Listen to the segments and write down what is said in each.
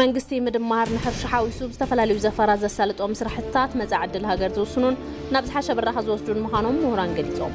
መንግስቲ ምድማር ንሕርሻ ሓዊሱ ብዝተፈላለዩ ዘፈራት ዘሳልጦም ስራሕትታት መፃኢ ዕድል ሃገር ዝውስኑን ናብ ዝሓሸ ብራኸ ዝወስዱን ምዃኖም ምሁራን ገሊፆም።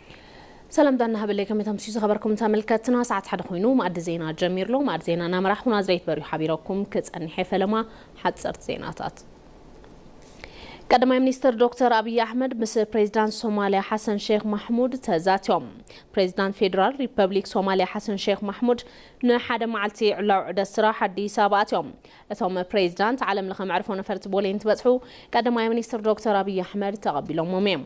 ሰላምታ እናሃበለይ ከመይ ተምስዩ ዝኸበርኩም ተመልከትና ሰዓት ሓደ ኮይኑ መኣዲ ዜና ጀሚርሎ መኣዲ ዜና እናመራሕኹ ናዝሬት በርዩ ሓቢረኩም ክጸኒሐ ፈለማ ሓጸርቲ ዜናታት ቀዳማይ ሚኒስትር ዶክተር ኣብዪ ኣሕመድ ምስ ፕሬዚዳንት ሶማሊያ ሓሰን ሼክ ማሕሙድ ተዛትዮም ፕሬዚዳንት ፌዴራል ሪፐብሊክ ሶማሊያ ሓሰን ሼክ ማሕሙድ ንሓደ መዓልቲ ዕላዊ ዑደት ስራሕ ኣዲስ ኣበባ ኣትዮም እቶም ፕሬዚዳንት ዓለም ለኸ መዕርፎ ነፈርቲ ቦሌ እንትበፅሑ ቀዳማይ ሚኒስትር ዶክተር ኣብዪ ኣሕመድ ተቐቢሎሞም እዮም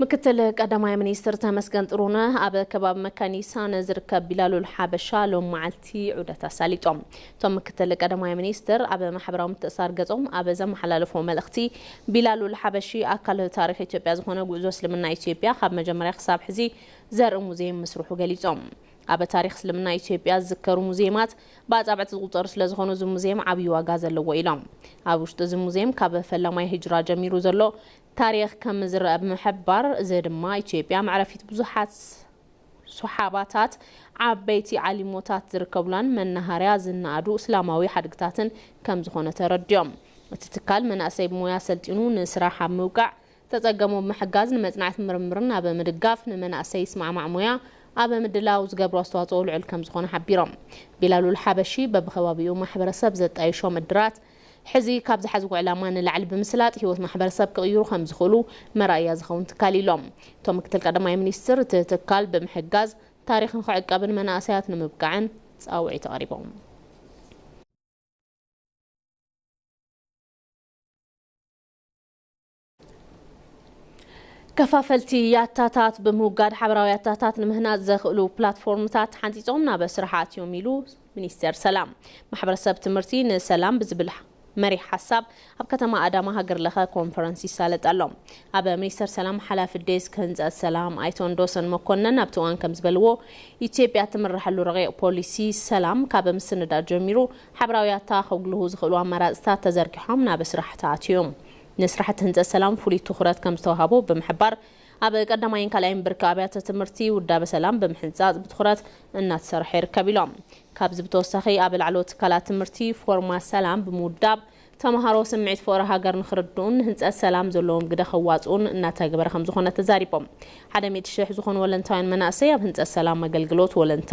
ምክትል ቀዳማይ ሚኒስትር ተመስገን ጥሩነህ ኣብ ከባቢ መካኒሳ ንዝርከብ ቢላሉል ሓበሻ ሎም መዓልቲ ዑደት ኣሳሊጦም እቶም ምክትል ቀዳማይ ሚኒስትር ኣብ ማሕበራዊ ምትእሳር ገጾም ኣብ ዘመሓላለፎ መልእኽቲ ቢላሉል ሓበሺ ኣካል ታሪክ ኢትዮጵያ ዝኾነ ጉዕዞ እስልምና ኢትዮጵያ ካብ መጀመርያ ክሳብ ሕዚ ዘርኢ ሙዚየም ምስርሑ ገሊጾም ኣበ ታሪኽ እስልምና ኢትዮጵያ ዝዝከሩ ሙዝየማት ብኣፃብዕቲ ዝቑፀሩ ስለዝኾኑ እዚ ሙዝየም ዓብዪ ዋጋ ዘለዎ ኢሎም። ኣብ ውሽጢ እዚ ሙዝየም ካብ ፈላማይ ህጅራ ጀሚሩ ዘሎ ታሪኽ ከምዝረኣ ብምሕባር፣ እዚ ድማ ኢትዮጵያ መዕረፊት ብዙሓት ሱሓባታት፣ ዓበይቲ ዓሊሞታት ዝርከቡላን መናሃርያ ዝነኣዱ እስላማዊ ሓድግታትን ከምዝኾነ ተረዲኦም። እቲ ትካል መናእሰይ ብሞያ ኣሰልጢኑ ንስራሕ ኣብ ምብቃዕ ዝተፀገሙ ብምሕጋዝ ንመፅናዕት ምርምርን ኣብ ምድጋፍ ንመናእሰይ ይስማዕማዕ ሞያ ኣብ ምድላው ዝገብሮ ኣስተዋፅኦ ልዑል ከምዝኾነ ሓቢሮም። ቢላሉል ሓበሺ በቢከባቢኡ ማሕበረሰብ ዘጣይሾም እድራት ሕዚ ካብ ዝሓዝዎ ዕላማ ንላዕሊ ብምስላጥ ህይወት ማሕበረሰብ ክቕይሩ ከምዝኽእሉ መርኣያ ዝኸውን ትካል እዩ ኢሎም እቶም ምክትል ቀዳማይ ሚኒስትር። እቲ ትካል ብምሕጋዝ ታሪኽ ንኽዕቀብን መናእሰያት ንምብቃዕን ፃውዒት ኣቕሪቦም። ከፋፈልቲ ያታታት ብምውጋድ ሓበራዊ ያታታት ንምህናፅ ዘኽእሉ ፕላትፎርምታት ተሓንፂፆም ናብ ስራሕ ኣትዮም ኢሉ ሚኒስቴር ሰላም። ማሕበረሰብ ትምህርቲ ንሰላም ብዝብል መሪሕ ሓሳብ ኣብ ከተማ ኣዳማ ሃገር ለኸ ኮንፈረንስ ይሳለጥ ኣሎ። ኣብ ሚኒስቴር ሰላም ሓላፊ ዴስክ ህንፀት ሰላም ኣይተ ወንዶሰን መኮነን ኣብቲ እዋን ከምዝበልዎ፣ ኢትዮጵያ እትምረሐሉ ረቂቕ ፖሊሲ ሰላም ካብ ምስንዳእ ጀሚሩ ሓበራዊ ያታ ከጉልሁ ዝኽእሉ ኣማራፅታት ተዘርጊሖም ናብ ስራሕ ተኣትዩም። ንስራሕቲ ህንፀት ሰላም ፍሉይ ትኹረት ከምዝተውሃቦ ብምሕባር፣ ኣብ ቀዳማይን ካልኣይን ብርኪ ኣብያተ ትምህርቲ ውዳበ ሰላም ብምሕንፃፅ ብትኹረት እናተሰርሐ ይርከብ ኢሎም። ካብዚ ብተወሳኺ ኣብ ላዕለዎት ትካላት ትምህርቲ ፎርማ ሰላም ብምውዳብ ተምሃሮ ስምዒት ፍቕሪ ሃገር ንኽርድኡን ንህንፀት ሰላም ዘለዎም ግደ ከዋፅኡን እናተገበረ ከምዝኾነ ተዛሪቦም። ሓደ ሚእቲ ሽሕ ዝኾኑ ወለንታውያን መናእሰይ ኣብ ህንፀት ሰላም ኣገልግሎት ወለንታ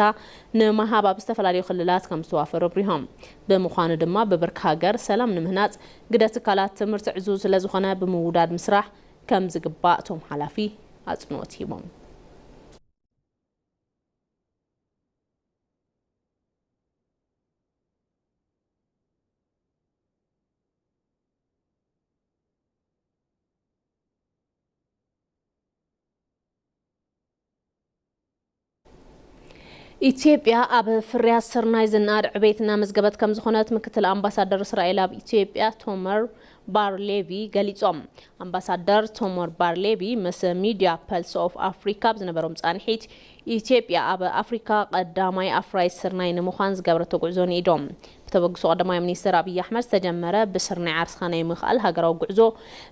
ንምሃብ ኣብ ዝተፈላለዩ ክልላት ከምዝተዋፈሩ ኣብሪሆም። ብምዃኑ ድማ ብብርኪ ሃገር ሰላም ንምህናፅ ግደ ትካላት ትምህርቲ ዕዙዝ ስለዝኾነ ብምውዳድ ምስራሕ ከምዝግባእ እቶም ሓላፊ ኣፅንኦት ሂቦም። ኢትዮጵያ ኣብ ፍርያት ስርናይ ዝነኣድ ዕቤት እናመዝገበት ከም ዝኾነት ምክትል ኣምባሳደር እስራኤል ኣብ ኢትዮጵያ ቶመር ባርሌቪ ገሊጾም። ኣምባሳደር ቶመር ባርሌቪ ምስ ሚድያ ፐልስ ኦፍ ኣፍሪካ ኣብ ዝነበሮም ጻንሒት ኢትዮጵያ ኣብ ኣፍሪካ ቀዳማይ ኣፍራዪት ስርናይ ንምዃን ዝገበረቶ ጉዕዞ ንኢዶ። ብተበግሶ ቀዳማይ ሚኒስትር ኣብዪ ኣሕመድ ዝተጀመረ ብስርናይ ዓርስኻ ናይ ምኽኣል ሃገራዊ ጉዕዞ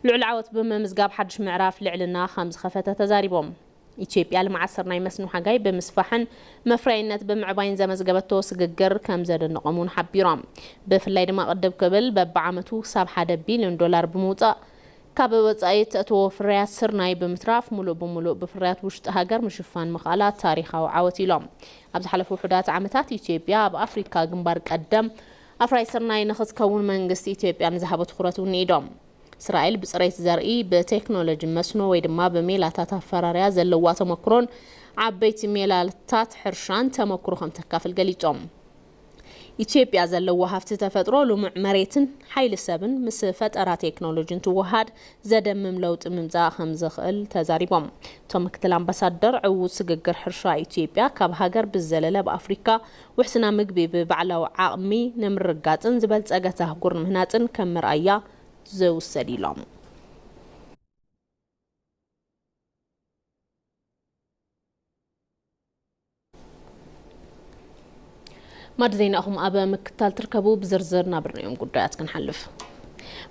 ልዑል ዓወት ብምምዝጋብ ሓዱሽ ምዕራፍ ልዕልና ከምዝኸፈተ ተዛሪቦም። ኢትዮጵያ ልምዓት ስርናይ መስኖ ሓጋይ ብምስፋሕን መፍረያይነት ብምዕባይን ዘመዝገበቶ ስግግር ከምዘደነቖም እውን ሓቢሮም። ብፍላይ ድማ ቅድብ ክብል በቢዓመቱ ክሳብ ሓደ ቢልዮን ዶላር ብምውፃእ ካብ ወፃኢ እተእትዎ ፍርያት ስርናይ ብምትራፍ ሙሉእ ብሙሉእ ብፍርያት ውሽጢ ሃገር ምሽፋን ምኽኣላ ታሪኻዊ ዓወት ኢሎም። ኣብ ዝሓለፉ ውሑዳት ዓመታት ኢትዮጵያ ኣብ ኣፍሪካ ግንባር ቀደም ኣፍራይ ስርናይ ንኽትከውን መንግስቲ ኢትዮጵያ ንዝሃቦ ትኹረት ውኒኢዶም። እስራኤል ብፅሬት ዘርኢ፣ ብቴክኖሎጂ መስኖ ወይ ድማ ብሜላታት ኣፈራርያ ዘለዋ ተሞክሮን ዓበይቲ ሜላታት ሕርሻን ተሞክሮ ከምተካፍል ገሊፆም። ኢትዮጵያ ዘለዋ ሃፍቲ ተፈጥሮ፣ ልሙዕ መሬትን ሓይሊ ሰብን ምስ ፈጠራ ቴክኖሎጂ እንትወሃሃድ ዘደምም ለውጢ ምምፃእ ከምዝኽእል ተዛሪቦም። እቶም ምክትል ኣምባሳደር፣ ዕዉት ስግግር ሕርሻ ኢትዮጵያ ካብ ሃገር ብዝዘለለ ኣብ ኣፍሪካ ውሕስና ምግቢ ብባዕላዊ ዓቕሚ ንምርግጋፅን ዝበልፀገት ኣህጉር ንምህናፅን ከም መርኣያ ዝውሰድ ኢሎም። ማዕድ ዜና ኢኹም ኣብ ምክትታል ትርከቡ ብዝርዝር ናብርናዮም ጉዳያት ክንሓልፍ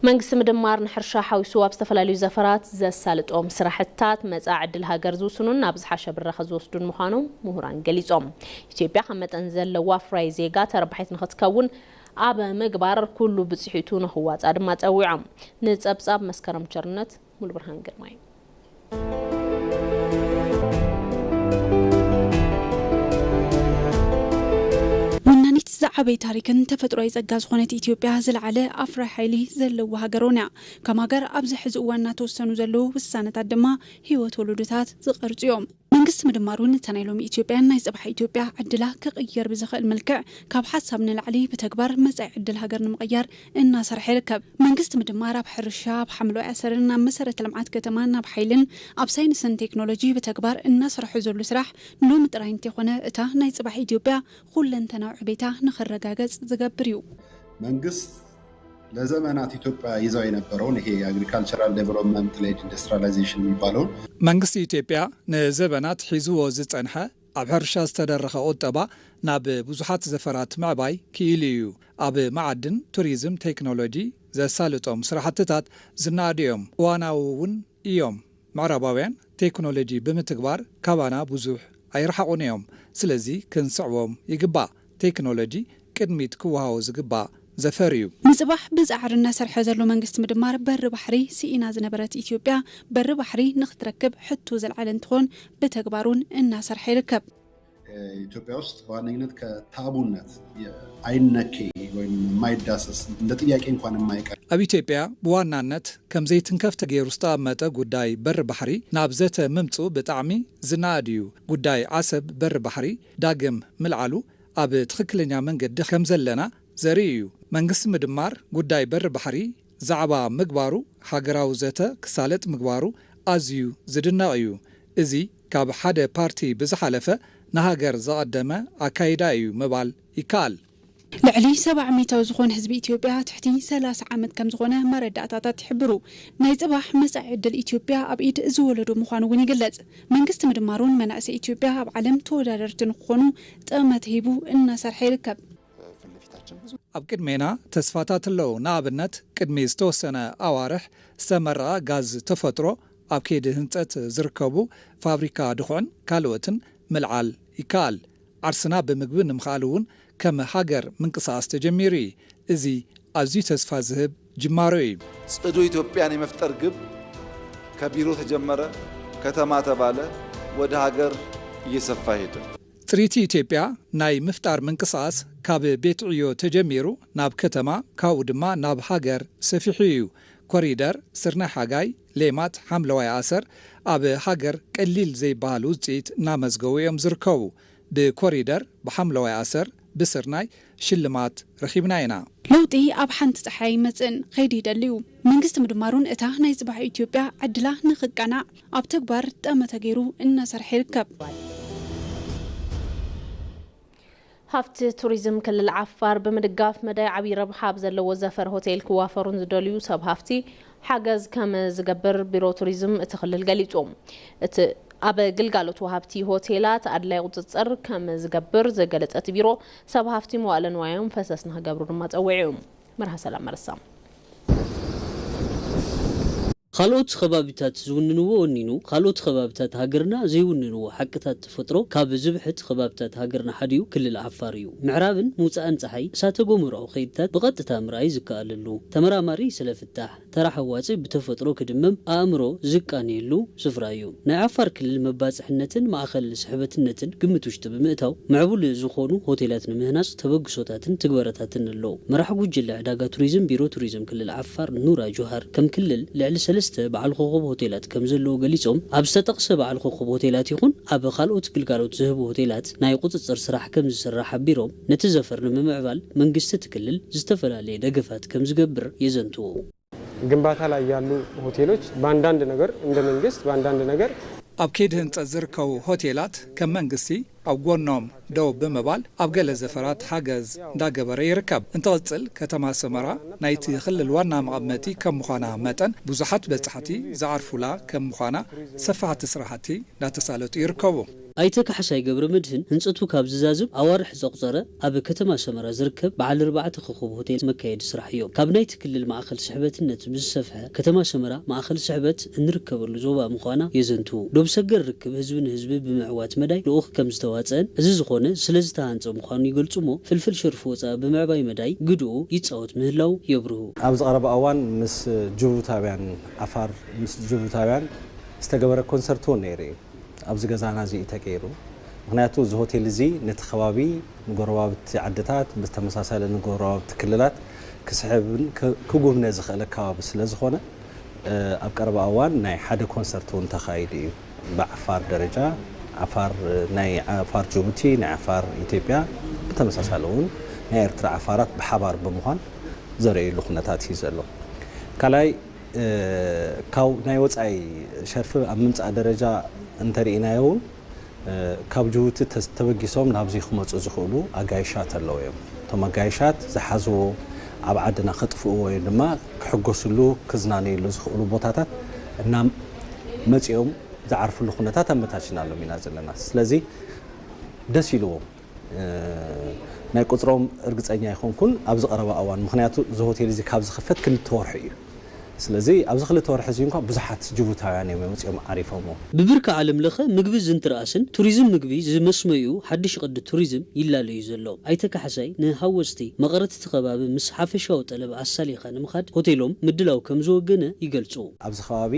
መንግስቲ ምድማር ንሕርሻ ሓዊሱ ኣብ ዝተፈላለዩ ዘፈራት ዘሳልጦም ስራሕትታት መፃ ዕድል ሃገር ዝውስኑን ናብ ዝሓሸ ብራኸ ዝወስዱን ምዃኖም ምሁራን ገሊፆም ኢትዮጵያ ካብ መጠን ዘለዋ ፍራይ ዜጋ ተረባሒት ንኽትከውን ኣብ ምግባር ኩሉ ብፅሒቱ ንኽዋፃእ ድማ ፀዊዖም ንፀብፃብ መስከረም ቸርነት ሙሉብርሃን ግርማይ። ወናኒት ዝዓበይ ታሪክን ተፈጥሮኣይ ጸጋ ዝኾነት ኢትዮጵያ ዝለዓለ ኣፍራይ ሓይሊ ዘለዋ ሃገር'ውን እያ። ከም ሃገር ኣብዚ ሕዚ እዋን እናተወሰኑ ዘለዉ ውሳነታት ድማ ህይወት ወለዶታት ዝቐርጹ እዮም። መንግስቲ ምድማር ውን እታ ናይ ሎሚ ኢትዮጵያን ናይ ጽባሕ ኢትዮጵያ ዕድላ ክቕይር ብዝኽእል መልክዕ ካብ ሓሳብ ንላዕሊ ብተግባር መጻኢ ዕድል ሃገር ንምቕያር እናሰርሐ ይርከብ። መንግስቲ ምድማር ኣብ ሕርሻ፣ ኣብ ሓምለዋይ ኣሰርን ኣብ መሰረተ ልምዓት ከተማን ኣብ ሓይልን ኣብ ሳይንስን ቴክኖሎጂ ብተግባር እናሰርሖ ዘሉ ስራሕ ሎሚ ጥራይ እንተይኮነ እታ ናይ ጽባሕ ኢትዮጵያ ኹለንተናዊ ዕቤታ ንኽረጋገጽ ዝገብር ዩ። መንግስት ለዘመናት ኢትዮጵያ ይዛው የነበረውን ይሄ የአግሪካልቸራል ዴቨሎፕመንት ሌድ ኢንዱስትሪያላይዜሽን የሚባለውን መንግስቲ ኢትዮጵያ ንዘበናት ሒዝዎ ዝጸንሐ ኣብ ሕርሻ ዝተደረኸ ቁጠባ ናብ ብዙሓት ዘፈራት ምዕባይ ክኢሉ እዩ። ኣብ መዓድን፣ ቱሪዝም፣ ቴክኖሎጂ ዘሳልጦም ስራሕትታት ዝነኣዱ እዮም፣ እዋናዊ እውን እዮም። ምዕራባውያን ቴክኖሎጂ ብምትግባር ካባና ብዙሕ ኣይረሓቑን እዮም፣ ስለዚ ክንስዕቦም ይግባእ። ቴክኖሎጂ ቅድሚት ክወሃቦ ዝግባእ ዘፈር እዩ። ንፅባሕ ብፃዕሪ እናሰርሐ ዘሎ መንግስቲ ምድማር በሪ ባሕሪ ስኢና ዝነበረት ኢትዮጵያ በሪ ባሕሪ ንክትረክብ ሕቶ ዘልዓለ እንትኾን ብተግባር እውን እናሰርሐ ይርከብ። ኢትዮጵያ ውስጥ በዋነኝነት ከታቡነት አይነኬ ወይም የማይዳሰስ እንደ ጥያቄ እንኳን የማይቀርብ ኣብ ኢትዮጵያ ብዋናነት ከም ዘይትንከፍ ተገይሩ ዝተቐመጠ ጉዳይ በሪ ባሕሪ ናብ ዘተ ምምፅኡ ብጣዕሚ ዝነኣድ እዩ። ጉዳይ ዓሰብ በሪ ባሕሪ ዳግም ምልዓሉ ኣብ ትኽክለኛ መንገዲ ከምዘለና ዘርኢ እዩ። መንግስቲ ምድማር ጉዳይ በሪ ባሕሪ ዛዕባ ምግባሩ ሃገራዊ ዘተ ክሳለጥ ምግባሩ ኣዝዩ ዝድነቕ እዩ። እዚ ካብ ሓደ ፓርቲ ብዝሓለፈ ንሃገር ዘቐደመ ኣካይዳ እዩ ምባል ይከኣል። ልዕሊ ሰባ ሚታዊ ዝኾን ህዝቢ ኢትዮጵያ ትሕቲ ሰላሳ ዓመት ከምዝኾነ መረዳእታታት ይሕብሩ። ናይ ፅባሕ መፃኢ ዕድል ኢትዮጵያ ኣብ ኢድ እዚ ወለዶ ምዃኑ እውን ይግለፅ። መንግስቲ ምድማሩን መናእሰይ ኢትዮጵያ ኣብ ዓለም ተወዳደርቲ ንክኾኑ ጥቕመቲ ሂቡ እናሰርሐ ይርከብ። ኣብ ቅድሜና ተስፋታት ኣለዉ። ንኣብነት ቅድሚ ዝተወሰነ ኣዋርሕ ዝተመረቐ ጋዝ ተፈጥሮ፣ ኣብ ከይዲ ህንፀት ዝርከቡ ፋብሪካ ድኹዕን ካልኦትን ምልዓል ይከኣል። ዓርስና ብምግቢ ንምኽኣል እውን ከም ሃገር ምንቅስቓስ ተጀሚሩ እዩ። እዚ ኣዝዩ ተስፋ ዝህብ ጅማሮ እዩ። ፅዱ ኢትዮጵያን የመፍጠር ግብ ከቢሮ ተጀመረ፣ ከተማ ተባለ፣ ወደ ሃገር እየሰፋ ሄደ። ፅሪቲ ኢትዮጵያ ናይ ምፍጣር ምንቅስቓስ ካብ ቤት ዕዮ ተጀሚሩ ናብ ከተማ ካብኡ ድማ ናብ ሃገር ሰፊሑ እዩ። ኮሪደር፣ ስርናይ ሓጋይ፣ ሌማት ሓምለዋይ ኣሰር ኣብ ሃገር ቀሊል ዘይበሃል ውፅኢት እናመዝገቡ እዮም ዝርከቡ። ብኮሪደር፣ ብሓምለዋይ ኣሰር፣ ብስርናይ ሽልማት ረኺብና ኢና። ለውጢ ኣብ ሓንቲ ፀሓይ ኣይመፅእን፣ ኸይዲ ይደሊ እዩ። መንግስቲ ምድማሩን እታ ናይ ፅባሕ ኢትዮጵያ ዕድላ ንኽቃናዕ ኣብ ተግባር ጠመተ ገይሩ እናሰርሐ ይርከብ። ሃፍቲ ቱሪዝም ክልል ዓፋር ብምድጋፍ መዳይ ዓብዪ ረብሓ ኣብ ዘለዎ ዘፈር ሆቴል ክዋፈሩ ንዝደልዩ ሰብ ሃፍቲ ሓገዝ ከም ዝገብር ቢሮ ቱሪዝም እቲ ክልል ገሊፁ። እቲ ኣብ ግልጋሎት ወሃብቲ ሆቴላት ኣድላይ ቁፅፅር ከም ዝገብር ዝገለፀ እቲ ቢሮ ሰብ ሃፍቲ መዋእለ ንዋዮም ፈሰስ ንክገብሩ ድማ ፀዊዑ። መርሃ ሰላም መረሳ። ኻልኦት ኸባቢታት ዝውንንዎ ወኒኑ ኻልኦት ኸባቢታት ሃገርና ዘይውንንዎ ሓቅታት ተፈጥሮ ካብ ዝብሕት ኸባቢታት ሃገርና ሓዲኡ ክልል ዓፋር እዩ። ምዕራብን ምውፃእን ፀሓይ እሳተ ጎመራዊ ኸይድታት ብቐጥታ ምርኣይ ዝከኣለሉ፣ ተመራማሪ ስለ ፍታሕ ተራ ሓዋፂ ብተፈጥሮ ክድመም ኣእምሮ ዝቃንየሉ ስፍራ እዩ። ናይ ዓፋር ክልል መባፅሕነትን ማእኸል ስሕበትነትን ግምት ውሽጢ ብምእታው ምዕቡል ዝኾኑ ሆቴላት ንምህናፅ ተበግሶታትን ትግበረታትን ኣለው። መራሒ ጉጅለ ዕዳጋ ቱሪዝም ቢሮ ቱሪዝም ክልል ዓፋር ኑራ ጁሃር ከም ክልል ልዕሊ ሰለስተ በዓል ኾኾብ ሆቴላት ከምዘለዉ ገሊፆም ኣብ ዝተጠቕሰ በዓል ኾኾብ ሆቴላት ይኹን ኣብ ኻልኦት ግልጋሎት ዝህቡ ሆቴላት ናይ ቁፅፅር ስራሕ ከምዝስራሕ ሓቢሮም ነቲ ዘፈር ንምምዕባል መንግስቲ እቲ ክልል ዝተፈላለየ ደገፋት ከምዝገብር የዘንትዉ። ግንባታ ላይ ያሉ ሆቴሎች በአንዳንድ ነገር እንደ መንግስት በአንዳንድ ነገር። ኣብ ከይዲ ህንፀት ዝርከቡ ሆቴላት ከም መንግስቲ ኣብ ጎኖም ደው ብምባል ኣብ ገለ ዘፈራት ሓገዝ እንዳገበረ ይርከብ። እንትቕፅል ከተማ ሰመራ ናይቲ ክልል ዋና መቐመጢ ከም ምዃና መጠን ብዙሓት በፃሕቲ ዝዓርፉላ ከም ምዃና ሰፋሕቲ ስራሕቲ እንዳተሳለጡ ይርከቡ። ኣይተ ካሕሳይ ገብረመድህን ህንፀቱ ካብ ዝዛዝም ኣዋርሕ ዘቑፀረ ኣብ ከተማ ሰመራ ዝርከብ በዓል ኣርባዕተ ኾኾብ ሆቴል መካየዲ ስራሕ እዮ። ካብ ናይቲ ክልል ማእኸል ስሕበትነት ብዝሰፈሐ ከተማ ሰመራ ማእኸል ስሕበት እንርከበሉ ዞባ ምዃና የዘንትው። ዶብ ሰገር ርክብ ህዝቢ ንህዝቢ ብምዕዋት መዳይ ልኡኽ ከምዝተዋፀእን እዚ ዝኾነ ስለዝተሃንፀ ምዃኑ ይገልፁ'ሞ ፍልፍል ሸርፊ ወፃኢ ብምዕባይ መዳይ ግድኡ ይፃወት ምህላዉ የብርሁ። ኣብዚ ቐረባ እዋን ምስ ጅቡታውያን፣ ዓፋር ምስ ጅቡታውያን ዝተገበረ ኮንሰርት'ውን ነይሩ እዩ። ኣብዚ ገዛና እዚ እዩ ተገይሩ። ምኽንያቱ እዚ ሆቴል እዚ ነቲ ከባቢ ንጎረባብቲ ዓድታት ብተመሳሳሊ ንጎረባብቲ ክልላት ክስሕብን ክጉብነ ዝኽእል ኣከባቢ ስለዝኾነ ኣብ ቀረባ እዋን ናይ ሓደ ኮንሰርት እውን ተኻይዱ እዩ ብዓፋር ደረጃ ዓፋር ናይ ዓፋር ጅቡቲ ናይ ዓፋር ኢትዮጵያ ብተመሳሳሊ እውን ናይ ኤርትራ ዓፋራት ብሓባር ብምዃን ዘርእይሉ ኩነታት እዩ ዘሎ ካልኣይ ካብ ናይ ወጻኢ ሸርፊ ኣብ ምምጻእ ደረጃ እንተርኢናዮ ውን ካብ ጅቡቲ ተበጊሶም ናብዚ ክመጹ ዝኽእሉ ኣጋይሻት ኣለዉ እዮም። እቶም ኣጋይሻት ዝሓዝዎ ኣብ ዓድና ከጥፍእዎ ወይ ድማ ክሕጎስሉ ክዝናነይሉ ዝኽእሉ ቦታታት እና መጺኦም ዝዓርፍሉ ኩነታት ኣመቻቺናሎም ኢና ዘለና። ስለዚ ደስ ኢልዎም ናይ ቁጽሮም እርግጸኛ ኣይኮንኩን ኣብዚ ቀረባ እዋን ምኽንያቱ እዚ ሆቴል እዚ ካብ ዝኽፈት ክልተ ወርሑ እዩ ስለዚ ኣብዚ ክልተ ወርሒ እዚ እንኳ ብዙሓት ጅቡታውያን እዮም መጺኦም ዓሪፎሞ። ብብርኪ ዓለም ለኸ ምግቢ ዝንትርኣስን ቱሪዝም ምግቢ ዝመስመዩ ሓዱሽ ቕዲ ቱሪዝም ይላለ እዩ ዘሎ። ኣይተ ካሕሳይ ንሃወፅቲ መቐረት እቲ ኸባቢ ምስ ሓፈሻዊ ጠለብ ኣሳሊኻ ንምኻድ ሆቴሎም ምድላው ከምዝወገነ ይገልፁ። ኣብዚ ኸባቢ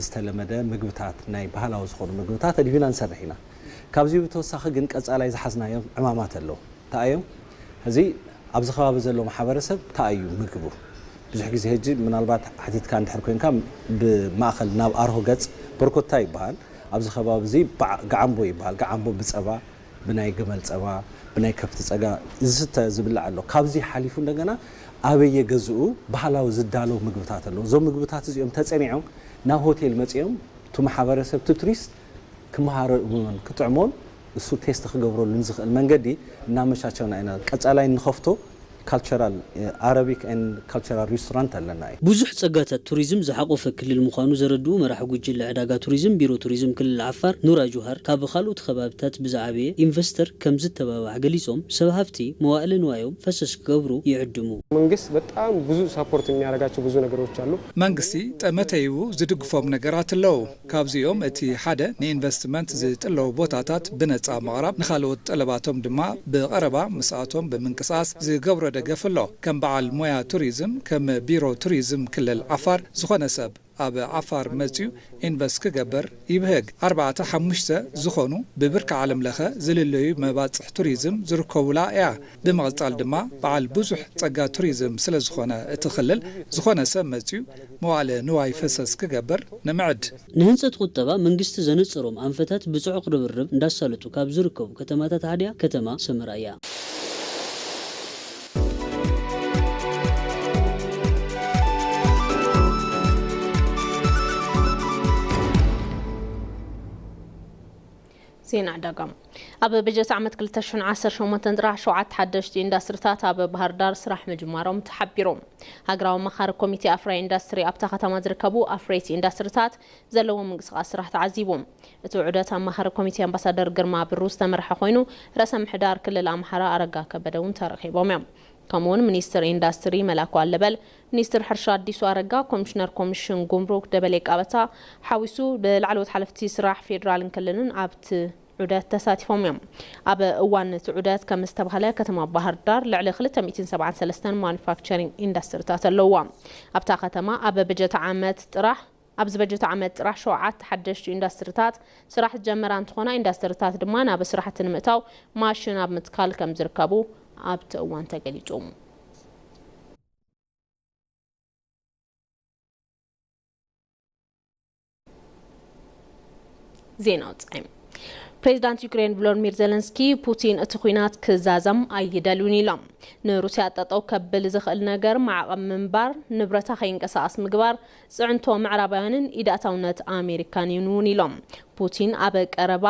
ዝተለመደ ምግብታት ናይ ባህላዊ ዝኾኑ ምግብታት ኣድሂብና ንሰርሕ ኢና። ካብዚ ብተወሳኺ ግን ቀፃላይ ዝሓዝናዮም ዕማማት ኣለው። እንታይ ኣዮም? ሕዚ ኣብዚ ከባቢ ዘሎ ማሕበረሰብ እንታይ ኣዩ ምግቡ? ብዙሕ ግዜ ሕጂ ምናልባት ሓቲትካ እንድሕር ኮይንካ ብማእኸል ናብ ኣርሆ ገፅ በርኮታ ይበሃል። ኣብዚ ከባቢ እዚ ባዕ ጋዓምቦ ይበሃል። ጋዓምቦ ብፀባ ብናይ ግመል ጸባ ብናይ ከፍቲ ጸጋ ዝስተ ዝብላዕ ኣሎ ካብዚ ሓሊፉ እንደገና ኣበየ ገዝኡ ባህላዊ ዝዳለው ምግብታት ኣሎ እዞም ምግብታት እዚኦም ተጸኒዖም ናብ ሆቴል መጺኦም እቱ ማሕበረሰብ እቱ ቱሪስት ክመሃረሉን ክጥዕሞን እሱ ቴስት ክገብረሉን ዝኽእል መንገዲ እናመቻቸውና ኢና ቀጻላይ ንኸፍቶ ካልቸራል ኣረቢክ ኤንድ ካልቸራል ሪስቶራንት ኣለና እዩ። ብዙሕ ፀጋታት ቱሪዝም ዝሓቖፈ ክልል ምዃኑ ዘረድኡ መራሒ ጉጅለ ዕዳጋ ቱሪዝም ቢሮ ቱሪዝም ክልል ዓፋር ኑራ ጁሃር፣ ካብ ኻልኦት ኸባብታት ብዝዓበየ ኢንቨስተር ከምዝተባባዕ ገሊፆም። ሰብ ሃፍቲ መዋእለ ንዋዮም ፈሰስ ክገብሩ ይዕድሙ። መንግስት በጣም ብዙ ሳፖርት የሚያረጋቸው ብዙ ነገሮች አሉ። መንግስቲ ጠመተይኡ ዝድግፎም ነገራት ኣለዉ። ካብዚኦም እቲ ሓደ ንኢንቨስትመንት ዝጥለቡ ቦታታት ብነፃ ምቕራብ፣ ንኻልኦት ጠለባቶም ድማ ብቐረባ ምስኣቶም ብምንቅስቓስ ዝገብሮ ደገፍ ኣሎ። ከም በዓል ሞያ ቱሪዝም፣ ከም ቢሮ ቱሪዝም ክልል ዓፋር፣ ዝኾነ ሰብ ኣብ ዓፋር መፂኡ ኢንቨስት ክገብር ይብህግ። ኣርባዕተ ሓሙሽተ ዝኾኑ ብብርኪ ዓለም ለኸ ዝልለዩ መባፅሕ ቱሪዝም ዝርከቡላ እያ። ብምቕፃል ድማ በዓል ብዙሕ ፀጋ ቱሪዝም ስለዝኾነ እቲ ክልል ዝኾነ ሰብ መፂኡ መዋእለ ንዋይ ፈሰስ ክገብር ንምዕድ። ንህንፀት ቁጠባ መንግስቲ ዘነፀሮም ኣንፈታት ብፅዑቕ ርብርብ እንዳሳለጡ ካብ ዝርከቡ ከተማታት ሓዲኣ ከተማ ሰመራ እያ። ዜና ዕዳጋ ኣብ በጀት ዓመት ክልተ ሽሕን ዓሰርተ ሸሞንተን ጥራሕ ሸውዓተ ሓደሽቲ ኢንዳስትሪታት ኣብ ባህርዳር ስራሕ ምጅማሮም ተሓቢሩ። ሃገራዊ ኣማኻሪ ኮሚቴ ኣፍራዪ ኢንዳስትሪ ኣብታ ከተማ ዝርከቡ ኣፍረይቲ ኢንዳስትሪታት ዘለዎም ምንቅስቓስ ስራሕ ተዓዚቡ። እቲ ዑደት ኣማኻሪ ኮሚቴ ኣምባሳደር ግርማ ብሩ ዝተመርሐ ኮይኑ ርእሰ ምሕዳር ክልል ኣምሓራ ኣረጋ ከበደ እውን ተረኺቦም እዮም። ከምኡ'ውን ሚኒስትር ኢንዳስትሪ መላኩ ኣለበል፣ ሚኒስትር ሕርሻ ኣዲሱ ኣረጋ፣ ኮሚሽነር ኮሚሽን ጉምሩክ ደበሌ ቃበታ ሓዊሱ ብላዕለዎት ሓለፍቲ ስራሕ ፌዴራልን ክልልን ኣብቲ ዑደት ተሳቲፎም እዮም። ኣብ እዋን እቲ ዑደት ከምዝተብሃለ ከተማ ባህርዳር ልዕሊ ክልተ ሚእትን ሰብዓን ሰለስተን ማኑፋክቸሪንግ ኢንዳስትሪታት ኣለዉዋ። ኣብታ ከተማ ኣብ በጀት ዓመት ጥራሕ ኣብዚ በጀት ዓመት ጥራሕ ሸውዓተ ሓደሽቲ ኢንዳስትሪታት ስራሕ ዝጀመራ እንትኾና ኢንዳስትሪታት ድማ ናብ ስራሕቲ ንምእታው ማሽን ኣብ ምትካል ከምዝርከቡ ኣብቲ እዋን ተገሊፁ። ዜና ውፃኢ ፕሬዚዳንት ዩክሬን ቮሎዲሚር ዘለንስኪ ፑቲን እቲ ኩናት ክዛዘም ኣይደልዩን ኢሎም ንሩስያ ጠጠው ከብል ዝኽእል ነገር ማዕቐብ ምንባር ንብረታ ከይንቀሳቐስ ምግባር ፅዕንቶ ምዕራባውያንን ኢዳእታውነት ኣሜሪካን እዩን እውን ኢሎም ፑቲን ኣብ ቀረባ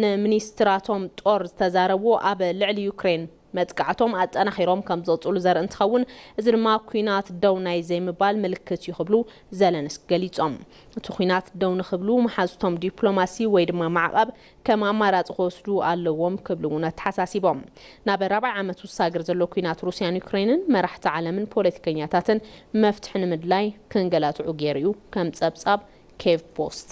ንሚኒስትራቶም ጦር ዝተዛረቡ ኣብ ልዕሊ ዩክሬን መጥቃዕቶም ኣጠናኺሮም ከምዝቕፅሉ ዘርኢ እንትኸውን እዚ ድማ ኲናት ደው ናይ ዘይምባል ምልክት እዩ ክብሉ ዘለንስኪ ገሊፆም። እቲ ኲናት ደው ንክብሉ መሓዙቶም ዲፕሎማሲ ወይ ድማ ማዕቐብ ከም ኣማራፂ ክወስዱ ኣለዎም ክብሉ እውን ኣተሓሳሲቦም። ናብ ራብዓይ ዓመት ዝሳገር ዘሎ ኲናት ሩሲያን ዩክሬንን መራሕቲ ዓለምን ፖለቲከኛታትን መፍትሒ ንምድላይ ክንገላትዑ ገይሩ እዩ ከም ፀብፃብ ኬቭ ፖስት።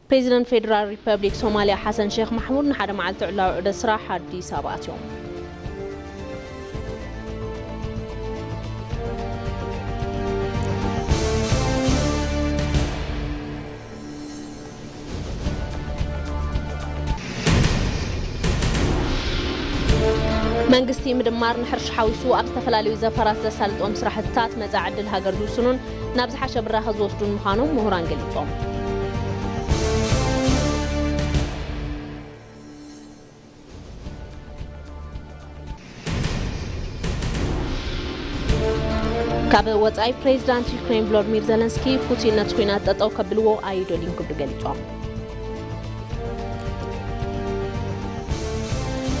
ፕሬዚደንት ፌዴራል ሪፐብሊክ ሶማሊያ ሓሰን ሼኽ ማሕሙድ ንሓደ መዓልቲ ዕላዊ ዑደት ስራሕ ኣዲስ ኣበባ ኣትዮም። መንግስቲ ምድማር ንሕርሻ ሓዊሱ ኣብ ዝተፈላለዩ ዘፈራት ዘሳልጦም ስራሕትታት መፃኢ ዕድል ሃገር ዝውስኑን ናብ ዝሓሸ ብራኸ ዝወስዱን ምዃኖም ምሁራን ገሊፆም። ካብ ወፃኢ ፕሬዚዳንት ዩክሬን ቮሎድሚር ዘለንስኪ ፑቲን ነቲ ኩናት ጠጠው ከብልዎ ኣይደልዩን ክብሉ ገሊፆም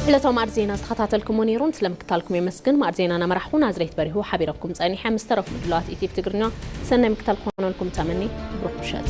ዕለታዊ ማዕድ ዜና ዝተኸታተልኩሞ ነይሩ ስለ ምክታልኩም የመስግን ማዕድ ዜና ናመራሕኹ ናዝሬት በሪሁ ሓቢረኩም ጸኒሐ ምስ ተረፉ ምድላዋት ኢቲቪ ትግርኛ ሰናይ ምክታል ክኾነልኩም ተመኒ ብሩኽ ምሸት